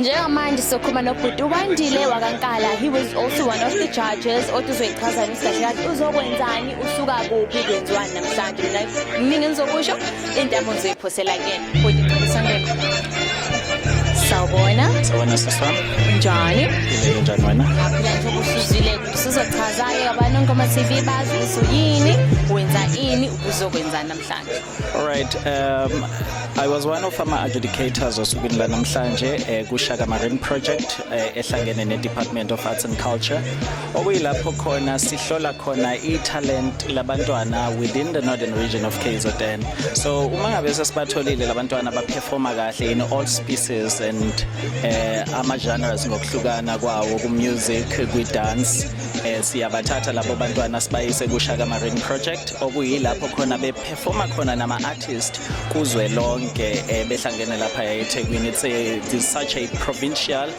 njengamanje sokhuluma nobhuti ukwandile wakankala he was also one of the judges othi uzoyichazana isigahle kathi uzokwenzani usuka kuphi kwenziwani namhlanje mina kuningi engizokusho intamo ngizoyiphosela kuyena bhuti ngicela isondelo sawubona sawubona siswami njani ngibeke njani wena ngiyaphila nje ubusuzile sizochaza-ke abantu onkoma tv bazi ukuthi yini wenza ini ubuzokwenza namhlanje All right, um, I was one of ama adjudicators osukwini lanamhlanje eh, kuShaka Marine Project eh, ehlangene neDepartment of Arts and Culture okuyilapho khona sihlola khona italent labantwana within the northern region of KZN. So uma ngabe sesibatholile labantwana baperforma kahle in all species and eh, ama genres ngokuhlukana kwawo ku music, kwi dance eh, siyabathatha labo bantwana sibayise kuShaka Marine Project okuyilapho khona beperforma khona nama-artist kuzwe lonke um behlangene lapha ethekwini it's, a, it's such a provincial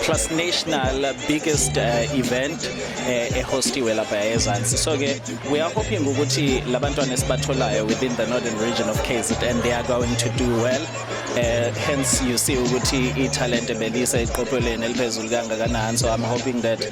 plus national biggest uh, event uh, ehostiwe lapha ezansi so-ke we are hoping ukuthi la bantwana esibatholayo within the northern region of kzn they are going to do well uh, hence you see ukuthi ithalente belise eqophelweni eliphezulu kangakanani so i'm hoping that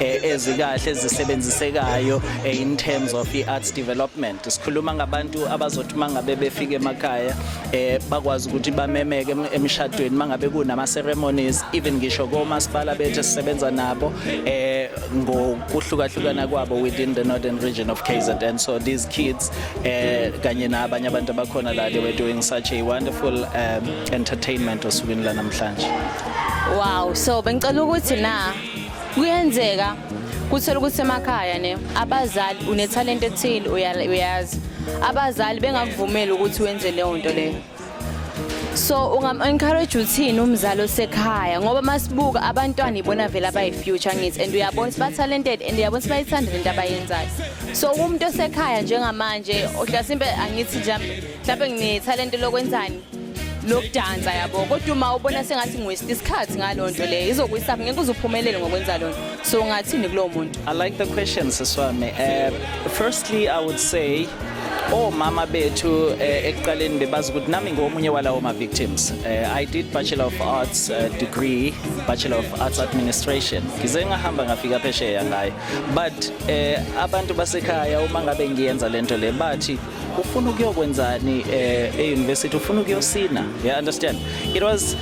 eh, ezikahle ezisebenzisekayo eh, in terms of i-arts development sikhuluma ngabantu abazothi mangabe befike emakhaya eh, bakwazi ukuthi bamemeke emishadweni mangabe kunama ceremonies even ngisho komasipala bethu sisebenza nabo eh ngokuhlukahlukana kwabo within the northern region of KZN so these kids eh kanye nabanye abantu abakhona la they were doing such a wonderful um, entertainment osukwini lanamhlanje wow so bengicela ukuthi na kuyenzeka kuthola ukuthi emakhaya ne abazali unethalente ethile uyazi abazali bengakuvumeli ukuthi wenze leyo nto leyo so ungam-encourage uthini umzali osekhaya ngoba masibuka abantwana ibona vele abayi-future ngithi and uyabona ukuthi ba-talented and uyabona ukuthi bayithanda lento abayenzayo so kumuntu osekhaya njengamanje ohlasimpe angithi nje mhlawumbe nginethalente lokwenzani lokudansa yabo kodwa uma ubona sengathi ngiwesti isikhathi ngalo nto leyo izokuyisaphi ngeke uze uphumelele ngokwenza lona so ungathini kulowo muntu i like the question siswami uh, firstly i would say omama oh, bethu eh, ekuqaleni bebazi ukuthi nami ngomunye walawo ma-victims eh, i did bachelor of arts eh, degree bachelor of arts administration ngize ngahamba ngafika phesheya ngayo but abantu basekhaya uma ngabe ngiyenza le nto le bathi ufuna ukuyokwenzani eh, e-university ufuna ukuyosina yeah understand it was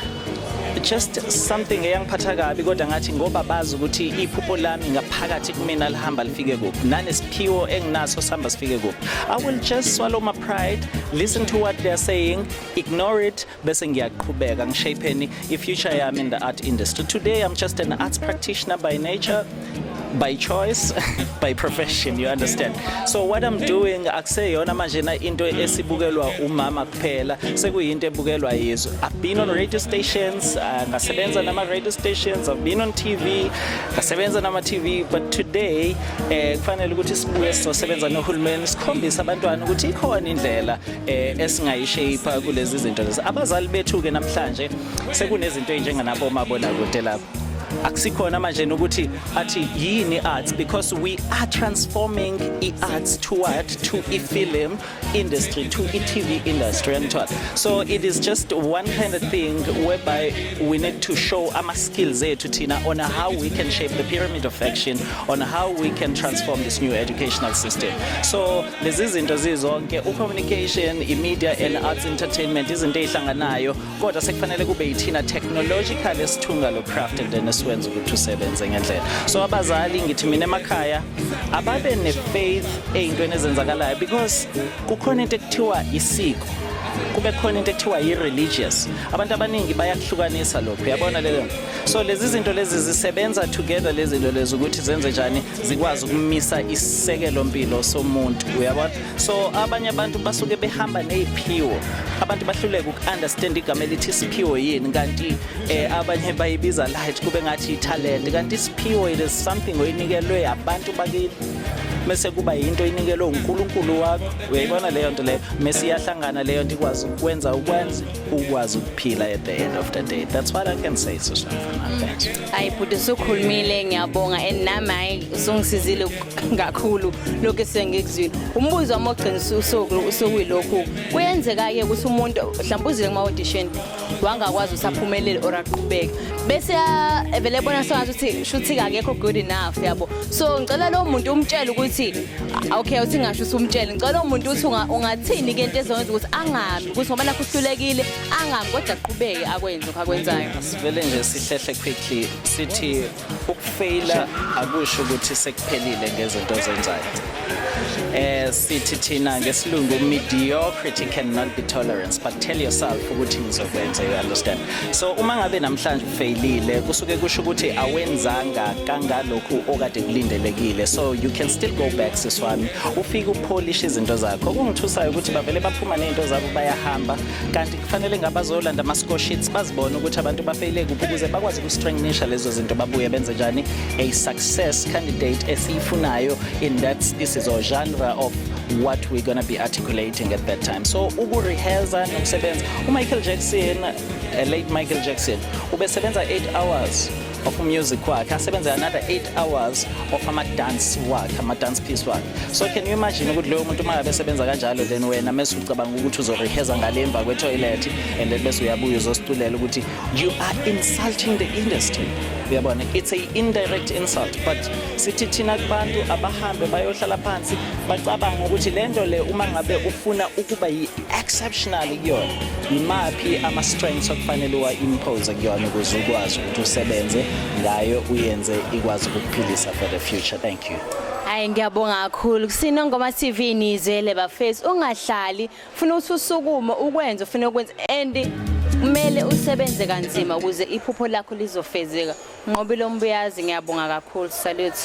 just something eyangiphatha kabi kodwa ngathi ngoba bazi ukuthi iphupho lami ngaphakathi kumina lihamba lifike kuphi nanesiphiwo enginaso sihamba sifike kuphi i will just swallow my pride listen to what they are saying ignore it bese ngiyaqhubeka ngishapheni i-future yami in the art industry today i'm just an arts practitioner by nature by choice by profession you understand so what i'm doing akuseyona manje na into esibukelwa umama kuphela sekuyinto ebukelwa yizwe i've been on radio stations uh, ngasebenza uh, nama radio stations i've been on tv ngasebenza nama tv but today eh kufanele ukuthi sibuye sizosebenza nohulumeni sikhombisa abantwana ukuthi ikhona indlela eh esingayishape kulezi zinto lezi abazali bethu ke namhlanje sekunezinto ezinjenganabo mabona kude lapho akusikhona manje ukuthi athi yini arts because we are transforming i-arts toward to i-film industry to i-tv industry and what so it is just one kind of thing whereby we need to show our skills there to Tina on how we can shape the pyramid of action on how we can transform this new educational system so lezi zinto zizonke ucommunication imedia and arts entertainment izinto ezihlanganayo kodwa sekufanele kube yithina technological esithunga lo craft and then esiwenza ukuthi usebenze ngendlela so abazali ngithi mina emakhaya ababe nefaith eyintweni ezenzakalayo because kukhona into ekuthiwa isiko kube khona into ekuthiwa yi-religious abantu abaningi bayakuhlukanisa lokhu yabona lelo so lezi zinto lezi zisebenza together lezi zinto lezi ukuthi zenze njani zikwazi ukumisa isisekelo mpilo somuntu uyabona so abanye abantu basuke behamba neziphiwo abantu bahluleka ukunderstand igama elithi isiphiwo yini kanti eh, abanye bayibiza light kube ngathi italent kanti isiphiwo it is something oyinikelwe abantu bakini mese kuba yinto inikelwe uNkulunkulu wakho uyayibona leyo nto leyo mese iyahlangana leyo nto ikwazi ukwenza ukwenza ukwazi ukuphila at the end of the day that's what i can say to something hayi bhuti usukhulumile ngiyabonga and nami hayi usungisizile kakhulu lokhu esengikuzwile umbuzo wami ogcinisa usuku usukuyilokhu kuyenzeka-ke ukuthi umuntu mhlawumbe uzile kuma-audition wangakwazi ukuthi aphumelele or aqhubeke bese vele ebona sengathi ukuthi shuthi kakekho good enough yabo so ngicela lowo muntu umtshele ukuthi okay uthi ngasho usumtshele ngicela lowo muntu ukuthi ungathini-ke into ezokwenza ukuthi angami ukuthi ngoba nakho uhlulekile angami kodwa aqhubeke akwenze lokho akwenzayo sivele nje sihlehle quickly sithi ukufeyila akusho ukuthi sekuphelile ngezinto ozenzayo eh sithi thina ngesilungu mediocrity cannot be tolerance but tell yourself ukuthi ngizokwenza you understand so uma ngabe namhlanje feyilile kusuke kusho ukuthi awenzanga kangalokhu okade kulindelekile so you can still go back sis wami ufike upholish izinto zakho okungithusayo ukuthi bavele baphuma nezinto zabo bayahamba kanti kufanele ngabazolanda ama score sheets bazibone ukuthi abantu bafeyile kuphi ukuze bakwazi ukustrengthenisha lezo zinto babuye benze njani a success candidate esiyifunayo in that this is a genre of what we're going to be articulating at that time so ukurehearsa nokusebenza umichael jackson A late Michael Jackson ubesebenza 8 hours of music wakhe asebenze another 8 hours of ama-dance wakhe ama-dance piece wakhe so can you imagine ukuthi loyo muntu uma besebenza kanjalo then wena mese ucabanga ukuthi uzoreheza ngale emva kwetoilet and then bese uyabuya uzosiculela ukuthi you are insulting the industry uyabona it's a indirect insult but sithi thina kubantu abahambe bayohlala phansi bacabanga ukuthi lento le uma ngabe ufuna ukuba exceptional kuyona imaphi ama strengths okufanele uwa impose kuyona ukuze ukwazi ukuthi usebenze ngayo uyenze ikwazi ukukuphilisa for the future thank you Hayi ngiyabonga kakhulu kusino ngoma TV nizele bafethu ungahlali funa ususukume ukwenze ufuna ukwenza and kumele usebenze kanzima ukuze iphupho lakho lizofezeka nqobile ombuyazi ngiyabonga kakhulu salute